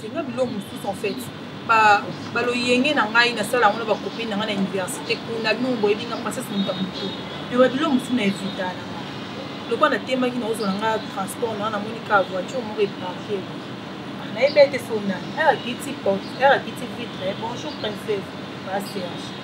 senga bilo mosusu en fait baloyenge na ngai nasala yango na bakopi na ngai na université kuna bino boyebi nga princesse moto ya motu mpe babilo mosusu na evita na ngai lokola natembaki naozwa na ngai transport na namoni ka voiture moko eparke ah, nayebi ete sonani arakiti porte arakiti vitre bonjour princesse baserge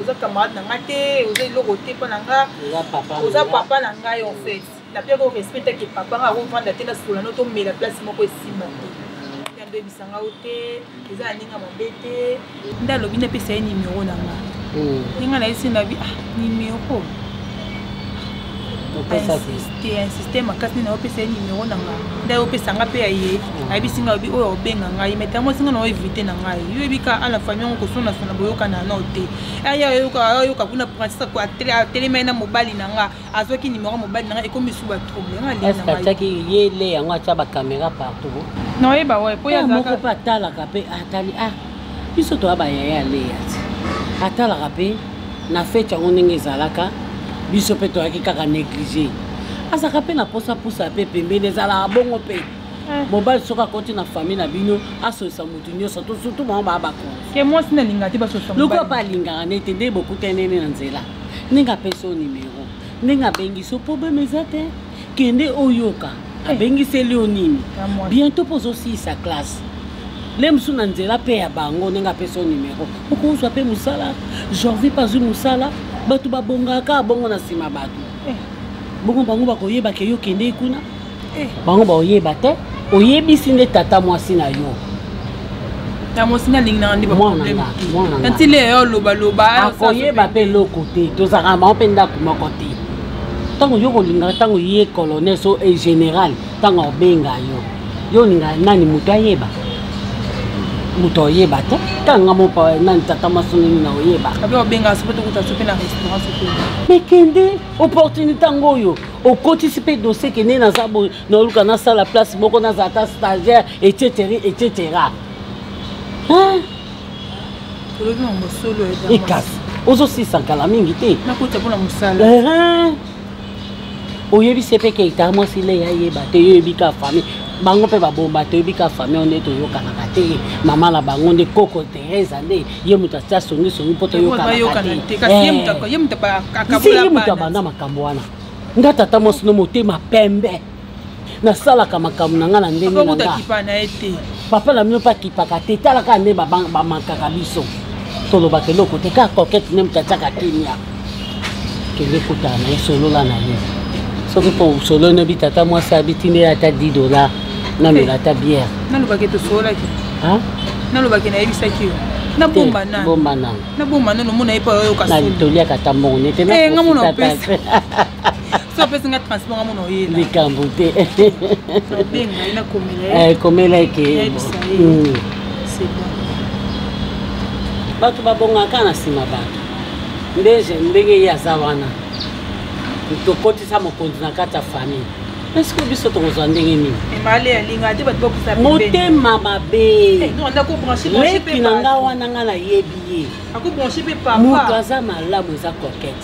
oza camarade na nga te oza eloko te mpo na nga oza papa na ngai en fait na mpe ko respecte ke papa nga akovanda te na solano tomela place moko esimba te yando ebisa nga o te eza ya ndenge ya mabe te nde alobi napesa ye nimero na nga ndenge hmm. nayesi na bi ah nimero insiste makasi nini opesa ye nimero na nga nde opesa nga mpe ya ye mm. ayebisi nga obi oyo obenga ngai mais tango esinga na oevite na ngai yo oyebika a la famille yango kosonasona boyokana nao te aya ayoka kuna francis atelemai na mobali na nga azwaki nimero ya mobali na nga ekomi su ba trouble ngaatyaki ye le yango atya bacaméra partout naoyeba waye mpo ye azalaka moko mpe atalaka mpe atali ah biso toya bayaya ya leya te atalaka mpe na fete yango ndenge ezalaka biso mpe toyaki kaka néglige azalaka mpe na mposa pusa mpe pembeni ezalaka bongo mpe eh. mobali soki akoti na famille na bino asolisa motu nyonso to surtout bango baa bakonlokola mpe alingaka ne te nde bokutanene na nzela ndenge apesi yo nimero ndenge abengi so problème eza te kende oyoka eh. abengiseli yo nini bientôt mpo ozosilisa classe le mosusu na nzela mpe ya bango ndenge apesi yo numero okozwa mpe mosala jorvi mpe azwi mosala bato babongaka bongo na nsima bato eh. bongo bango bakoyeba ke yo kendei kuna eh. bango bakoyeba te oyebisi nde tata mwasi na yo na mwasi nalingi nanga nde batanti leyo olobaloba akoyeba mpe eloko te tozalaka bango mpe ndako moko te ntango yo kolingaka ntango ye colonel so e général ntango akobenga yo yo olingaka nani moto ayeba moto oyeba te tanga mopa nani tata masonini na oyeba me kende opportunité yango oyo okotisi mpe dosie kende naza boye naoluka nasala place moko naza ata stagiaire etc etc olobi na mosolo ekasi eh, ozosisa kala mingi te nakota mpona mosala oyebisi mpe keita mwasi le yayeba te yoyebi ka famille bango mpe babomba toyebi ka famille nde toyokanaka te mama na bango nde koko teresa nde ye moto atia songisongi mpo toyokanaka teye moto abanda makambo wana nga tata mwasi no motema pembe nasalaka makambo na ngai na ndenge na ngai papa na bino mpe akipaka te tala kaka nde bamankaka biso tolobaka eloko te kaka kokete nde moto atiaka kimia kende kutana na ye solola na ye soki mpo solo nobi tata mwasi abiti nde ata 10 dollar namela ata biere nalobaki tosololaki nalobaki nayebisaki yo nabomba nabomba nano mona ye mpo ayoka toliaka ata mbongo nete eh, so apesi nga transport amona oyela likambo te obenga ye nakomela komela eke bato babongaka na nsima bato ndeje ndenge ye aza wana tokotisa mokonzi na kati ya famille eske biso tokozwa ndenge nini motema mabeleki eh, na nga wana nga nayebi ye moto aza malamu eza kokete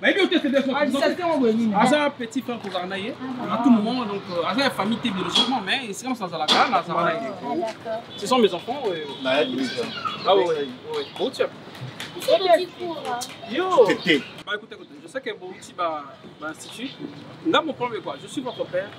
bayebi yo te aza petit frère kozala na ye na tout moment donc euh, aza ya famille te biologiquement mais esika mosu azalaka nazala na ye ah, ce sont mes enfants euh. ah bouti yo bah, écoute, écoute, je sais que Bouti va institut. Là, mon problème est quoi Je suis votre père.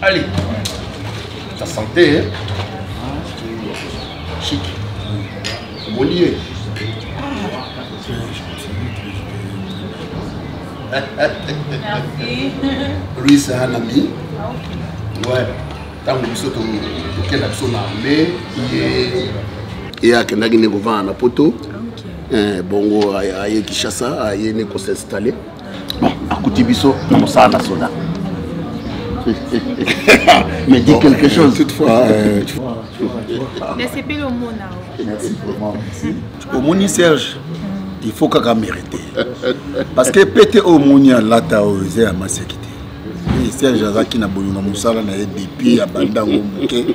Allez, ta santé, hein? Chic. Bon lieu. Merci. Lui, c'est un ami. Ouais. ntango biso tokenda biso na arme ye akendaki nde kovanda na poto Eh, bongo aye Kishasa aye ne ko s'installer. Bon, akuti biso na mosala na soda. Mais dis quelque chose. Toutefois, euh, tu vois. nasepeli omona omoni serge il faut kaka mérite parce que pete oyo omoni alata oyo eza ya maseki te serge azalaki na bolingo mosala na ye depuis abanda yango moke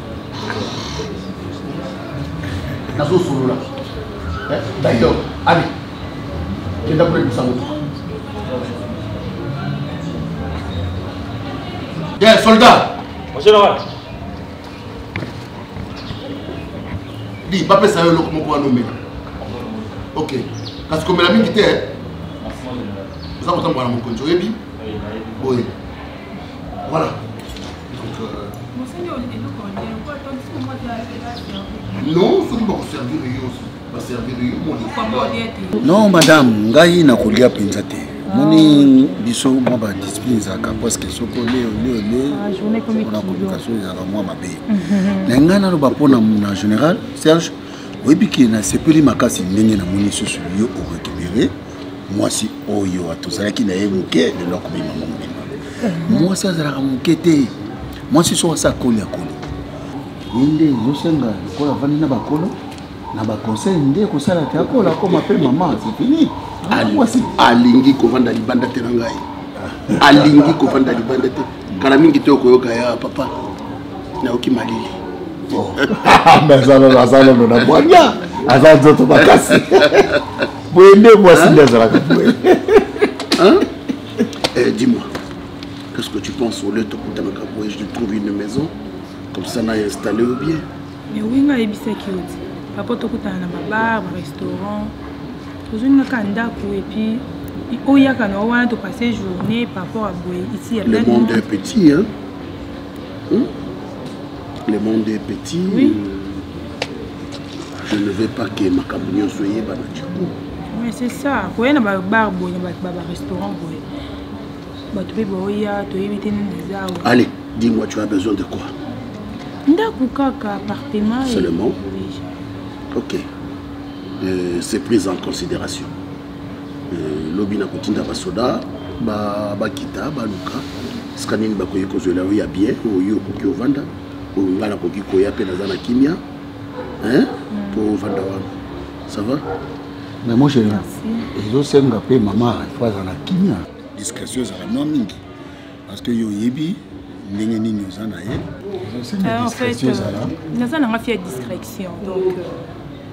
nazosolola eh, d'ailleurs ali kenda kolekisa motuka ye soldat général di bapesa yo eloko moko wana omela ok kasi komela mingi te eh? oza kotambola na mokonzi oyebi boye Voilà. Donc, euh, non soki bakoservir yo baservir yo moni non madame ngai nakolia mpenza te moni biso mwa badiscipline ezalaka preske soko leo leo leo mpona koluka so ezalaka mwa mabe na ngai naloba mpona na général serge oyebi ke nasepeli makasi ndenge namoni lisusu yo orekibere mwasi oyo tozalaki na ye moke lelo akobima mobimba mwasi azalaka moke te mwasi so asi akoli akoli ye nde ezosenga lokola avandi na bakolo na baconseil nde ekosala te akola akoma mpe mama sefini ah, mwasi alingi kovanda libanda te na ngai alingi kovanda libanda te kala mingi te okoyoka ya papa nayoki malili oh. azalolo na bwanya aza nzoto makasi boye nde mwasi nde azalaka boye eh, dis-moi qu'est-ce que tu penses au lieu tokutanaka boye je trouve une maison comme ça naye installé ou bien mais oui nga ayebisaki yo ti papa tokutana na babar barestaurant tozwi nga kaka ndako epuis oyaka na yo wana topasse journée par rapport à boye ici le monde est petit hein? Hmm? le monde est petit oui. euh... je ne veux pas que makambo nyonso eyeba na ciku mais c'est ça koya na babar boye na bato baba restaurant boye bato mpe baoya toyebi te nini eza awa allez dis moi tu as besoin de quoi ndako kaka appartement seulement ok euh, c'est prise en considération euh, lobi na kotinda basoda bakita baluka sika nini bakoki kozwela yo ya bien oyo okoki ovanda oyo ngai nakoki koya mpe naza na kimia hein mpo mm. ovanda wana ça va mais mon chéri ezosenga mpe mama ifo azala kimia discrétion ezala mwa mingi parce que yo oyebi ndenge nini oza na ye ah, euh, naza nanga fi ya discrétion donc euh,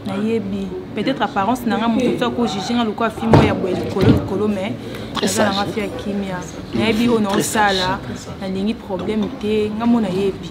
nayebi peut-être apparence nanga moto ti akojuge nga lokola fi moko ya boye likolo likolo mais naza nanga fi ya kimia nayebi oyo naosala nalingi problème te nga mo nayebi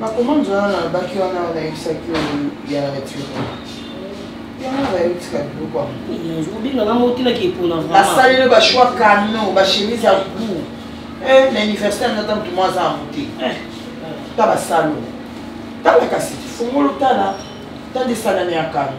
bakomande wana nalobaki wana nayebisaki ya nature basaleli bashoi kano bachemise ya gou eh, na université nata motu mwa aza yango te eh. ta basalo tala kasi fungolo tala tandisana na ya kano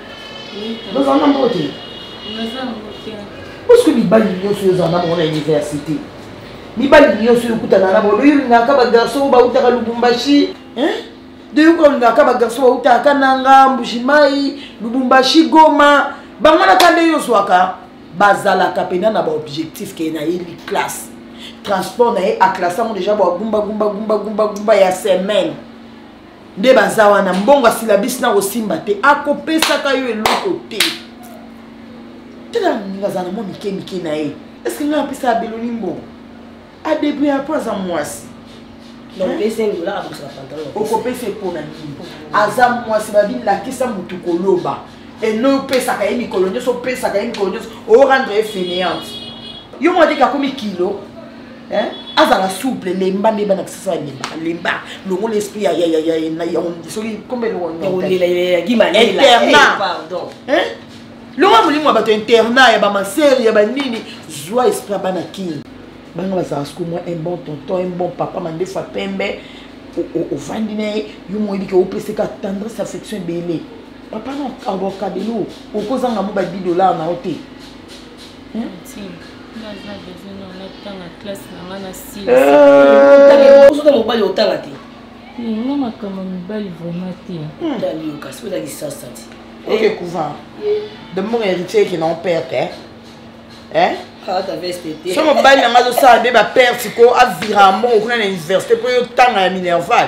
Dans un endroit qui Parce que les balles, ils sont dans un endroit université. Les balles, ils sont dans un endroit où ils sont dans un garçon, où ils sont dans Lubumbashi. Hein de yoka olingaka bagarso bautaka kananga mbujimai lubumbashi goma bango na kanda yo ozwaka bazalaka mpena na baobjectif keye na ye classe transport na ye aklasse yango deja bagumbagumbagumbagumba ya semaine nde baza wana mbongo asilabisi na kosimba te akopesaka yo eloko te tala moninga azala na mwa mike mike na ye eske ngai apesa abeloni mbongo adebri apo aza mwasi okopesa epo na nini aza mwasi babilakisa motu koloba eno opesaka ye mikolo nyonso opesaka ye mikolo nyonso orendre ye faineante yo mwa teke akomi kilo azala souple lemba nde bana kisasa balembaka lemba longola esprit soki longola molimo ya bato internat ya bamasere ya banini zwa esprit ya bana kin banga bazala soko mwa un bon tonton un bon papa mandefu ya pembe ovandi na ye yo moyebi ke opeseka tendresse affection ebele papa na abokabelo okozanga mo ba 10 dollar na yo te ozota mobali otanga te nga makambo mibali vraiment te ndaliyo kasi oza lisasa te oke couvent de mbongo héritier ekenda o perte so mobali na ngai azosala nde baperte ko aviramo okuna na université mpo yotanga ya minerval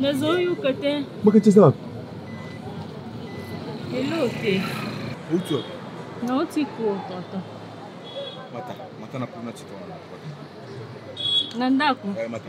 nazoyoka te bakati eza wapi elo te outi wapi nauti kotata mata mata na kuna tika wana na ndako eh, mata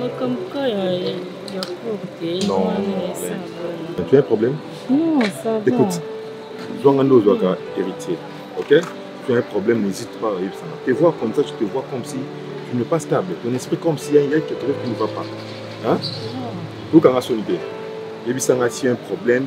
makambo ka ya ya courte Non, mais tu as un problème non ça va écoute zwanga nde ozwaka héritier ok tu as un problème n'hésite pas oyebisana te voir comme ça tu te vois comme si tu n'es pas stable ton esprit comme si il y a quelque chose qui ne va pas hein okanga soni te yebisanga si un problème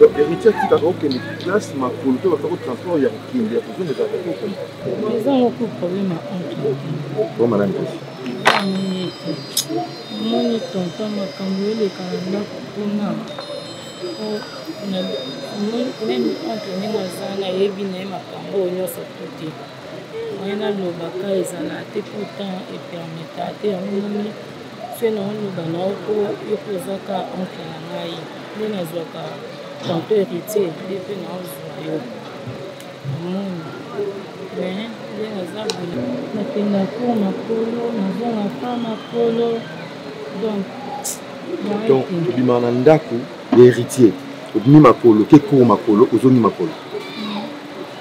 donc héritier atikaka okende place makolo to bakako transport ya kokende ya kozonga ezalaka te okoma eza moko problème ya okoma na ndosi omoni tonton makambo eleka na ndako kuna meme oncle ndenge aza nayebi na ye makambo oyo nyonso to te moyen naloba ka ezala te po temps epermeta te yango moni se naoloba na yo po yo mpe oza ka oncle na ngai nde nazwaka tanto héritier nde mpe naozwa yo omoni me nde naza boye nakenda po makolo nazonga pa makolo donc donc obima na ndako ya héritier obimi makolo ke cour makolo ozongi makolo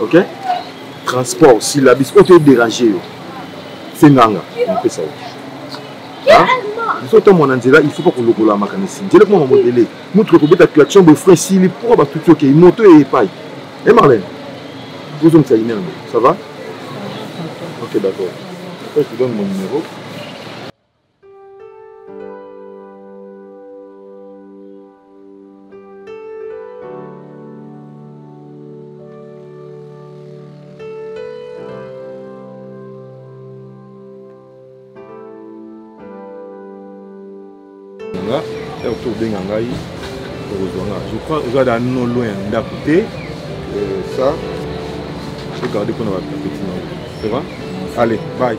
ok transport syllabis oyo toye dérange yo senganga napesa yo biso ntango na nzela il faut pas kolokola makanisi nzela ekoma mamodele motuka ekobeta claction boye frein esili mpo batuti okei moto eye epai e marlene ozongisa ine yango ça va ok d'accord après tu donne mon numéro nga heure to obenga ngai okozwa nga je crois oza da no loin ya ndako te euh, ça ogarde mpona bapetite na yo ça va allez bye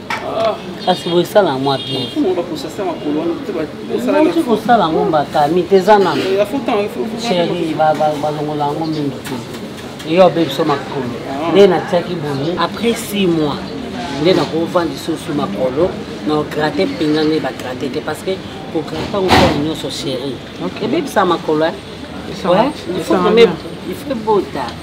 kasi boye esala mwa bienouti kosala yango mbakami te eza nano sheri balongola yango mingi te eyo abe biso makolo ah. nde natiaki boye après six mois nde nakova lisusu makolo na ograte mpenza nde bagrate te parce que kograte yango mpona nyonso sheri ebebisa makolo il faut bota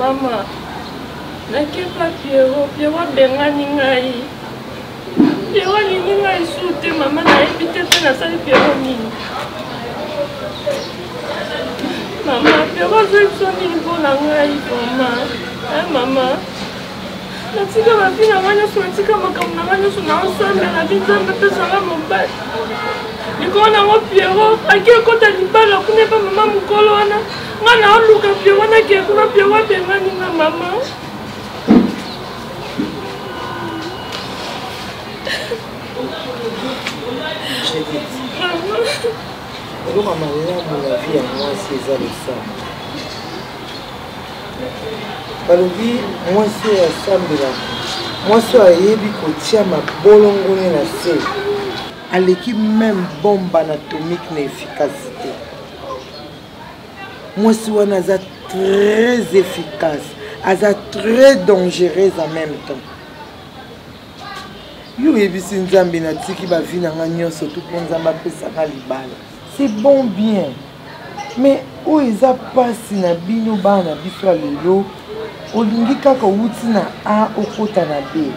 mama nakepa piero piero abengani ngai piero alingi ngai su te mama nayebi te mpe nasali piero nini mama piero azali biso nini mpo na ngai vraimen mama natika bafi na ngai nyonso natika makambo na ngai nyonso naosambela bi nzambe apesanga mobali likolo nango piero ake ekota libala kuna epa mama mokolo wana ngai naoluka piero wana ke kuna piero abengani nga mama eloko ya malamu na vie ya mwasi eza losambo balobi mwasi oyo asambela mwasi oyo ayebi kotia mabolongone na se aleki meme bombe anatomique na efficacité mwasi wana aza très efficace aza très dangereuse en même temps yo oyebisi nzambe natiki bavi na ngai nyonso tu mpo nzambe apesaka libala c'est bon bien mais oyo eza mpasi na bino bana na biso ya lelo olingi kaka owuti na a okota na b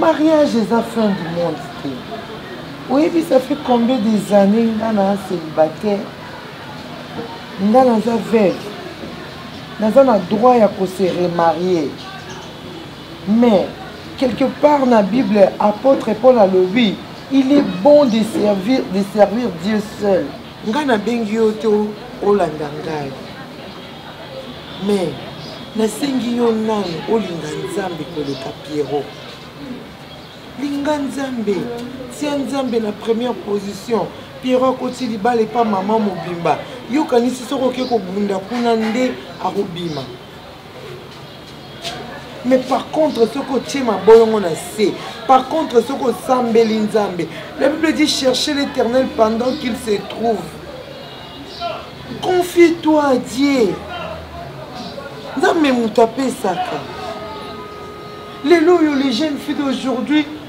mariage eza fin du monde te oyebi ça fait combien des années nga na célibataire nga naza veuve naza na droit ya kose remarier Mais, quelque part na Bible, apôtre Paul alobi, il est bon de servir, de servir Dieu seul. Nga na bengi yo te olanda ngai. Mais, nasengi yo nani olinga Nzambe koleka Pierrot. Linga Nzambe, tia Nzambe na première position. Pierrot akoti libala epa mama mobimba. Yokanisi soki oke kobunda kuna nde akobima. mais par contre soki otie mabolongo na se par contre soki osambeli nzambe la bible dit chercher l'éternel pendant qu'il se trouve confie toi à dieu nzambe moto apesaka lelo oyo les jeunes filles d'aujourd'hui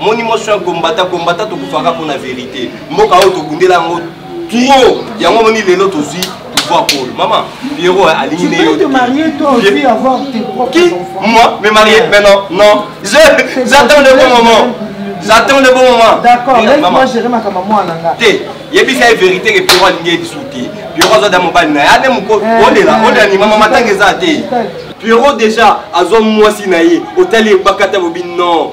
omoni moi soin kombata kombata tokufaka mpo na verité mboka oyo tobundela yango trop yango omoni lelo tozwi pouvoir pole mama pierro alingi ne yo qui moi me marier mais non non j'attends le bon moment j'attends le bon moment d'accord laisse-moi gérer makambo mwana nga te yebisa ye vérité ke pierro alingi ye lisusu te pierro aza da mobali na ye ade moko olela eh, eh, olela ni mama eh, matanga eza te pierro déjà azwa mwasi na ye otali ebakata bobi non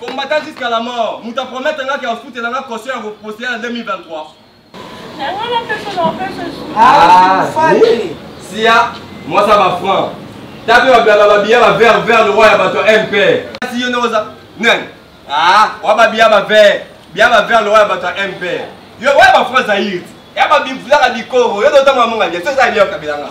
Combattant jusqu'à la mort. Moto a promettre nga ke akofutela nga caution ya koposter ya 2023. Yango na peso na peso. Ah, oui. Sia, moi ça va franc. Tape ba blaba ba biya ba vert vert le roi ya bato MP. Si yo noza. Nani? Ah, wa ba biya ba vert. Biya ba vert le roi ya bato MP. Yo wa ba franc Zaire. Ya ba bimfulaka dikoro. Yo dotama munga ndia. Soza ya kabila nga.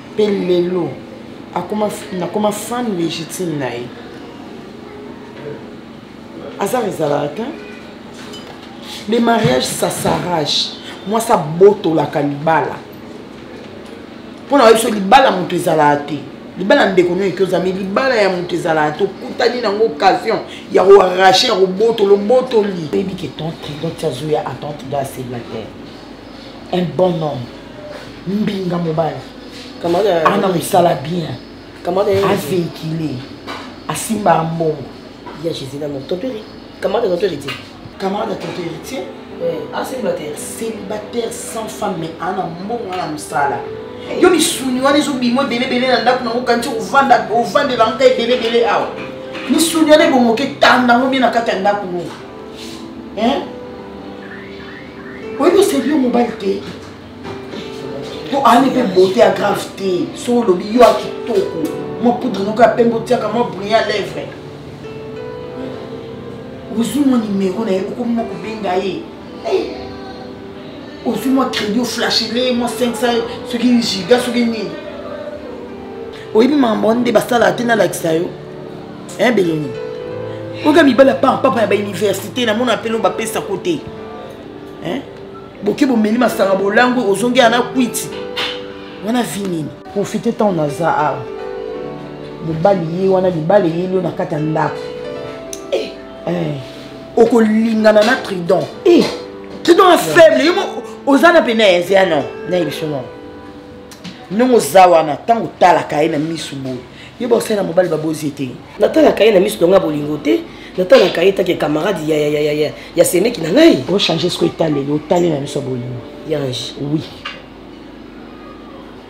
mpe lelo nakoma fan légitime na ye azar ezalaka te le mariage ça s'arrache mwasi abotolaka libala mpo na biso libala moto ezalaka te libala ndeko nio ekoza me libala ya moto ezalaka te okutani nango occasion ya koarrache ya kobotolo obotoli oyebi ke tonte azoya atante da celibataire un bon homme mbinga mobali ana mosala bien aveikile asimbaka mbongo ya jésus na moto totori camarade tonto héritier camarade ya tonto héritier acélibataire ah, célibataire sans femme mais ana mbongo ana mosala yo misuni wana ezobima ebelebele na ndako nango kanti ovandela nka ebelebele awa misuni wana ebongoke tanda yango bie na kati ya ndako ngo oyebi osebi yo mobali te po ani mpe beauté ya grave te so olobi yo ya kitoko mwa poudre noko ya pembe otiaka mwa brillant lèvre ozwi mwa nimero na ye okomi mwa kobenga ye eh! ozwi mwa crédit oflashele mwa 500 soki giga soki nini oyebi makambo wana nde basalaka te nalakisa yo hein beloni oka mibala pa papa ya ba université na mona pelo ba pesa côté hein boke bomeli masanga bolango ozongi ana kwiti wana vi nini profite ntango naza awa mobali ye wana libala eyeli yo na kati ya ndako eh, eh. okolingana na tridon eh. tridon ya faible yo oza na pene ya ezea no na ebiso no ndongo oza wana ntango otalaka ye na misu boye yo baosali na mobali babozi te natalaka ye na miso nanga bolingo te natalaka ye take camarade ya, ya, ya, ya, ya, ya semeki na ngai ochange soki etaleli otali na miso ya bolingo yange oui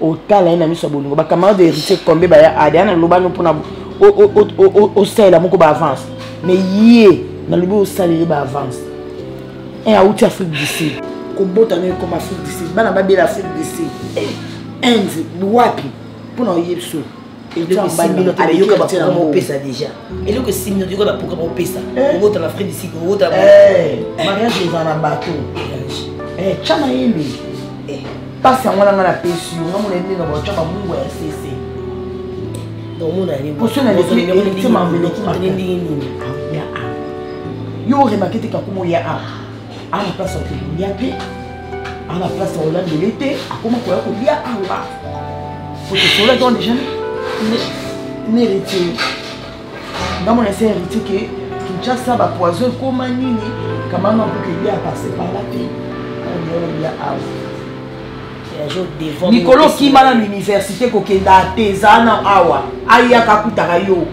otala ye na miso ya bolingo bacamarade ya héritier kombe baya ade ana lobano mpona osalela moko baavance mais ye nalobi osalela ye baavance un auti afrique du sud kobota no ekoma afrique du sud bana babela afrique du sud eh, inde wapi mpona oyebi so ayoka baprogramme eh. opesa déjà eloko esimbi no toyoka baprogramme opesa okota na frais disik okota eh. eh. mariage eza na bato tya mayele mpasi yango nanga napesi yo nga mona nde na batya babungu ya sese yo oremake te kakuma oya a ana place ya kolia te ana place ya kolandele te akoma koya kolia awa otosolaki wana deja na héritier nga mona esi héritier ke kinshasa bapoison ekoma nini kamama mpoka elia apase pala te olia awa mikolo okima na université kokenda te eza na awa ayaka akutaka yo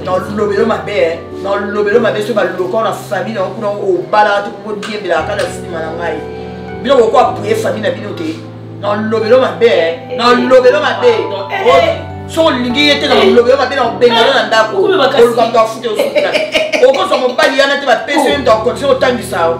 nalobelo mabe eh. nalobelo mabe soki balokao na famille nango kuna obalaka te koko diembelaka kaka na sinima na ngai bino koko apuye famille na bino te nalobelo mabe eh. eh, nalobelo mabe soki olingi ye te na lobelo mabe na obengana na ndako oluka moto afuta osuka okozwa mobali yana te bapesi yo moto akondition otangisa yo